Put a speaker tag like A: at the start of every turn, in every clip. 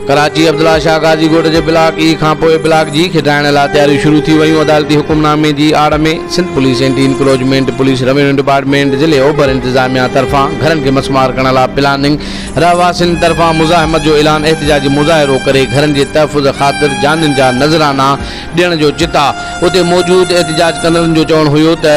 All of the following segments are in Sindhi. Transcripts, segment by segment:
A: ڪراچي، عبدالله شاهه غازي ڳوٺ جي بلاڪ اي کانپوء بلاڪ جي کٽائڻ لاء تياريون شروع ٿي ويون، عدالتي حڪمنامي جي آڙ ۾ Sindh police, anti encroachment police, revenue department, ضلعي اوڀر انتظاميا طرفان گهرن کي مسمار ڪرڻ لاء پلاننگ، رهواسين طرفان مزاحمت جو اعلان، احتجاجي مظاهرو ڪري گهرن جي تحفظ خاطر جانين جا نذرانا، ڏيڻ جو چتا. اتي موجود احتجاج ڪندڙن جو چوڻ هيو ته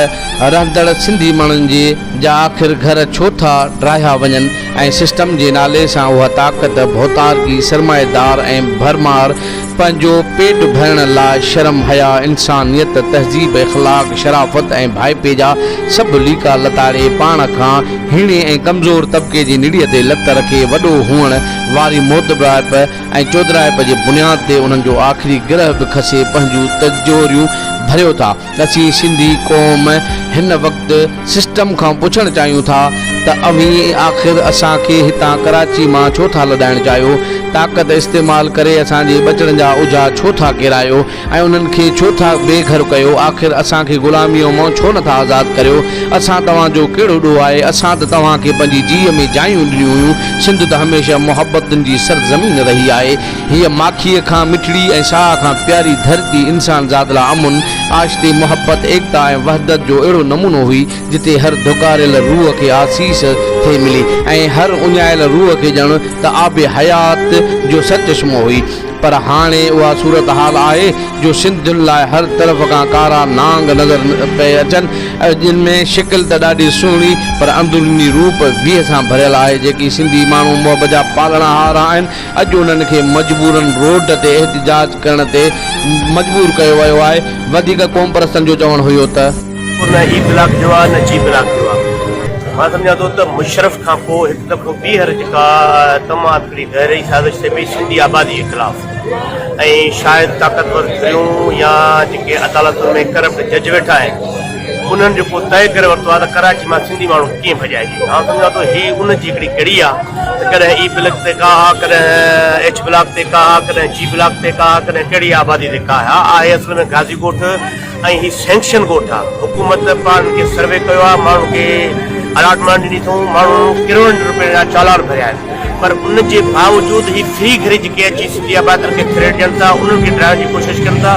A: رهندڙ سنڌي ماڻهن جي جا آخر گهر ڇو ٿا ڊاهيا وڃن ۽ سسٽم جي نالي سان اها طاقت ڀوتارڪي سرمائيدار ۽ ڀرمار پنهنجو پيٽ ڀرڻ لاء شرم حيا انسانيت تهذيب اخلاق شرافت ۽ ڀائپي جا سڀ ليڪا لتاڙي پاڻ کان هيڻي ۽ ڪمزور طبقي جي نڙي تي لت رکي وڏو هئڻ واري موتبرائپ ۽ چودراهپ جي بنياد تي انهن جو آخري گرهه به کسي پنهنجون تجهوريون ڀريو ٿا. اسين سنڌي قوم هن وقت سسٽم کان پڇڻ چاهيون ٿا ته اوهين آخر اسان کي هتان ڪراچي مان ڇو ٿا لڏائڻ چاهيو؟ طاقت استعمال ڪري اسان جي ٻچڙن جا اجها ڇو ٿا ڪيرايو؟ ۽ انهن کي ڇو ٿا بي گهر ڪيو؟ آخر اسان کي غلاميء مئن ڇو نه ٿا آزاد ڪريو؟ اسان توهان جو ڪهڙو ڏوهه آهي؟ اسان ته توهان کي پنهنجي جيء ۾ جايون ڏنيون هيون. سنڌ ته هميشه محبتن جي سرزمين رهي آهي. هيء ماکيء کان مٺڙي ۽ ساهه کان پياري ڌرتي انسان ذات لا امن، آشتي، محبت، ايڪتا ۽ وحدت جو اهڙو نمونو هئي، جتي هر ڌڪاريل روح کي آسيس ٿي ملي ۽ هر اڃايل روح کي ڄڻ ته آب حيات جو سرچشمو هئي. پر هاڻي اها صورتحال آهي جو سنڌين لاء هر طرف کان ڪارا نانگ نظر پئي اچن، جن ۾ شڪل ته ڏاڍي سهڻي پر اندروني روپ ويهه سان ڀريل آهي، جيڪي سنڌي ماڻهو محب جا پالڻهار آهن، اڄ انهن کي مجبوراً روڊ تي احتجاج ڪرڻ تي مجبور ڪيو ويو آهي، وڌيڪ قومپرستن جو چوڻ هيو ته. نه هي بلاڪ جو آهي نه جي بلاڪ
B: جو آهي، مان سمجهان ٿو ته مشرف کان پوء هڪ دفعو ٻيهر جيڪا طمع. هڪڙي گهري سازش ٿئي پئي سنڌي آبادي جي خلاف ۽ شايد طاقتور ڌريون يا جيڪي عدالتن ۾ ڪرپٽ جج ويٺا آهن انهن جيڪو طئي ڪري ورتو آهي ته ڪراچي مان سنڌي ماڻهو ڪيئن ڀڄائجي آئون سمجهان ٿو هي ان جي هڪڙي ڪڙي آهي ته ڪڏهن اي بلڪ تي ڪا ها ڪڏهن ايڇ بلاڪ تي ڪا ها ڪڏهن جي بلاڪ تي ڪا ها ڪڏهن ڪهڙي آبادي تي ڪا ها آهي اصل ۾ گازي ڳوٺ ۽ هي سينڪشن ڳوٺ آ حڪومت پاڻ کي سروي ڪيو آ ماڻهن کي الاٽمينٽ ڏني اٿئون ماڻهن ڪروڙن رپين جا چالان ڀريا آهن پر ان جي باوجود هي فري گهري جيڪي اچي سنڌي آبادين کي ٿريٽ ڏين ٿا انهن کي ڊاهڻ جي ڪوشش ڪن ٿا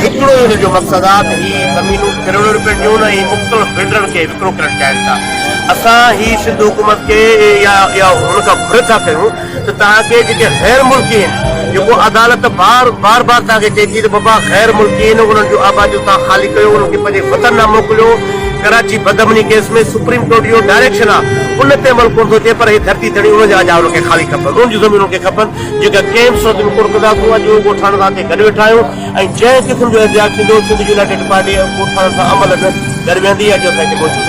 B: هڪڙو ئي ان جو مقصد آ ته هي زمينون ڪروڙن رپين جون ۽ مختلف بلڊرن کي وڪرو ڪرڻ چاهين ٿا اسان هي سنڌ حڪومت کي يا ان کان گهر ٿا ڪيون ته توهان کي جيڪي غير ملڪي هن جيڪو عدالت بار بار بار توهان کي چئي ٿي ته بابا غير ملڪي هن انهن جون آباديون توهان خالي ڪيو انهن کي پنهنجي وطن نه موڪليو ڪراچي بد امني ڪيس ۾ سپريم ڪورٽ جو ڊائريڪشن آ ان تي عمل ڪونه ٿو ٿئي پر هي ڌرتي ڌڻي انهن جا اجا انهن کي خالي کپن انهن جون زمينون کي کپن جيڪا ڪنهن به صورت ۾ ڪونه ڪندا سون اڄ اهو ڳوٺاڻن سان اتي گڏ ويٺا آهيون ۽ جنهن قسم جو احتجاج ٿيندو سنڌ يونائيٽيڊ پارٽي ڳوٺاڻن سان عملن گڏ ويهندي اڄ اسان هتي موجود آهيون.